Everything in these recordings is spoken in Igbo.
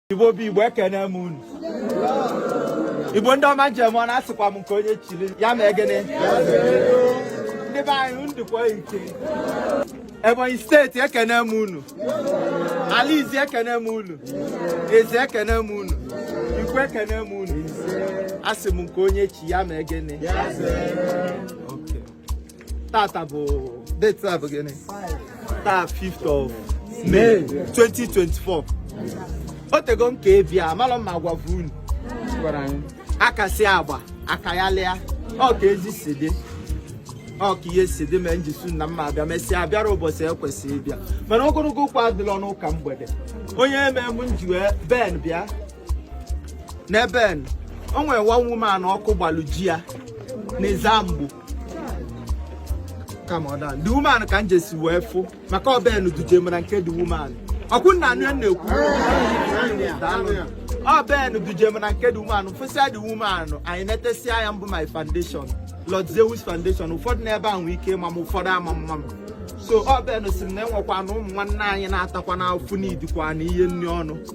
igbo bụ igbo ekene m unu igbo ndị ọma njem ọ na-asịkwa m nke onye chiri ya ma egene ndị be anyị ndịkwa ike ebonyi steeti ekene m unu ala izzi ekene m unu ezza ekene m unu ikwo ekene m unu asị m nke onye chi ya ma egene tata bụ date a bụ gịnị taa 5th of May 2024 o tego m ka ebi a malụ ma agwa bụ unu aka si agba aka ya lịa ọ ka ezi si dị ọ ka ihe si dị ma njisu na mma abịa mesịa abịarọ ụbọchị ekwesị ịbịa mana ogologo okwu adịlọ n'ụka mgbede onye eme m nji wee ben bịa na ben o nwere one woman ọkụ gbalụ ji ya n'ezzamgbo the woman ka m jesi wee fụ maka ọ ben duje m na nke the woman ọkwụ nna anụ ya na-ekwu ọ ben duje m na nke the woman fụsịa the woman anyị netesịa ya mbụ my foundation Lord Zeus foundation ụfọdụ n'ebe a nwee ike ma m ụfọdụ ama ama m so ọ ben sị m na e nwekwanụ ụmụ nwanne anyị na-atakwanụ afụfụ needikwanụ ihe nri ọnụ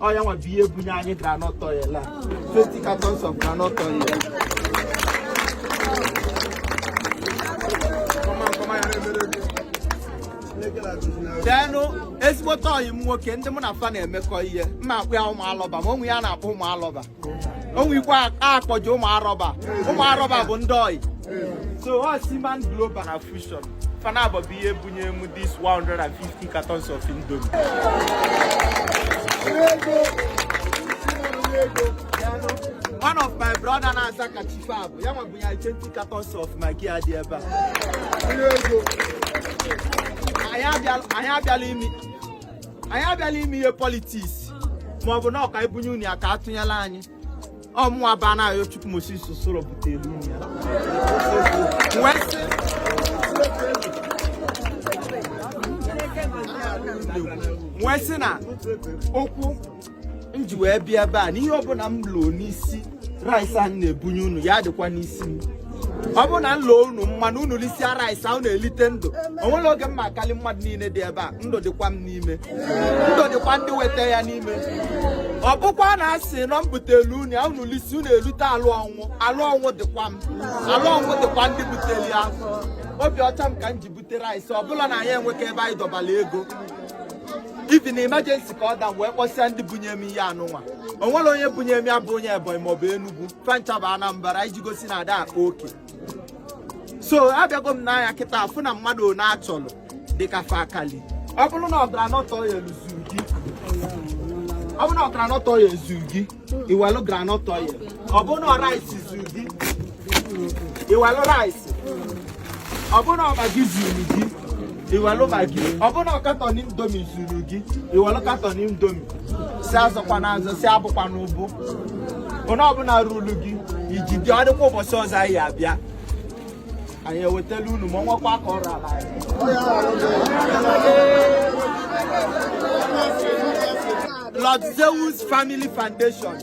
ọ ya nwa bụ ihe bunye anyị groundnut oil a 20 cartons of groundnut oil then ezigbote ọyị m nwoke ndị mụ na fa na-emekọ ihe mma akpọ ya ụmụ alọba ma onwe ya na-akpọ ụmụ alọba o nwee ike akpọ gị ụmụ arọba ụmụ arọba bụ ndị ohi so ọ si man global na fusion fa nabọ bụ ihe bunye m this 150 cartons of indomie one of my brother na-aza kachifo bụ ya nwa bunye 20 cartons of maggi a dị ebe a anyị abịalọ imi anyị abịalọ ime ihe politiks ma ọ bụ na ọ ka anyị bunye unu ya ka a tụnyelụ anyị ọ mụnwa bụ anayochukwu moses soro butere unu ya wee sị na okwu m ji wee bịa ebe a na ihe ọbụla m loo n'isi rice anyị na-ebunye unu ya dịkwa n'isi m ọ bụ na m loo unu mma na unu lisia rice ahụ unu elite ndụ o nwerọ oge mma akali mmadụ niile dị ebe a ndụ dịkwa m n'ime ndụ dịkwa ndị weta ya n'ime ọ bụkwa na a sị na m butelu unu ya unu lisi unu elute alụ ọnwụ alụ ọnwụ dịkwa m alụ ọnwụ dịkwa ndị butelụ ya obi ọcha m ka m ji rice ọbụla na anyị enweka ebe anyị dọbara ego even emergency ka ọ da wee kpọsịa ndị bunye m ihe a nụnwa o nwerọ onye bunye m ya bụ onye ebonyi maọbụ enugwu fa ncha bụ anambra iji gosi na a da akpa oke so abịago m nee anya kịta afụ na mmadụ one a chọrọ dịka fa akali ọ bụrụ na groundnut oil zuru gị iwelu groundnut oil ọ bụrụ na rice zuru gị iwelu rice ọ bụrụ na Maggi zuru gị iwelu Maggi ọ bụrụ na carton Indomie zuru gị iwelu carton Indomie sị azọkwana azọ sị abụkwana ụbụ onye ọbụla ruru gị ijide ọ dịkwa ụbọchị ọzọ anyị abịa anyị ewetala unu ma nwekwa aka ọrụ ala Lord Zeus Family Foundation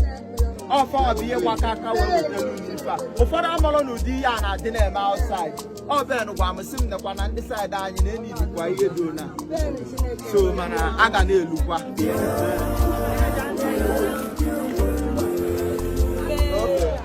ọ fa bụ ihe gbakọ aka wee wetara unu ife a ụfọdụ amalụ na ụdị ihe a na-adị na-eme outside ọ Ben gwa m sị m nekwa na ndị side anyị na-needikwa ihe dị na so mana a ga na-elukwa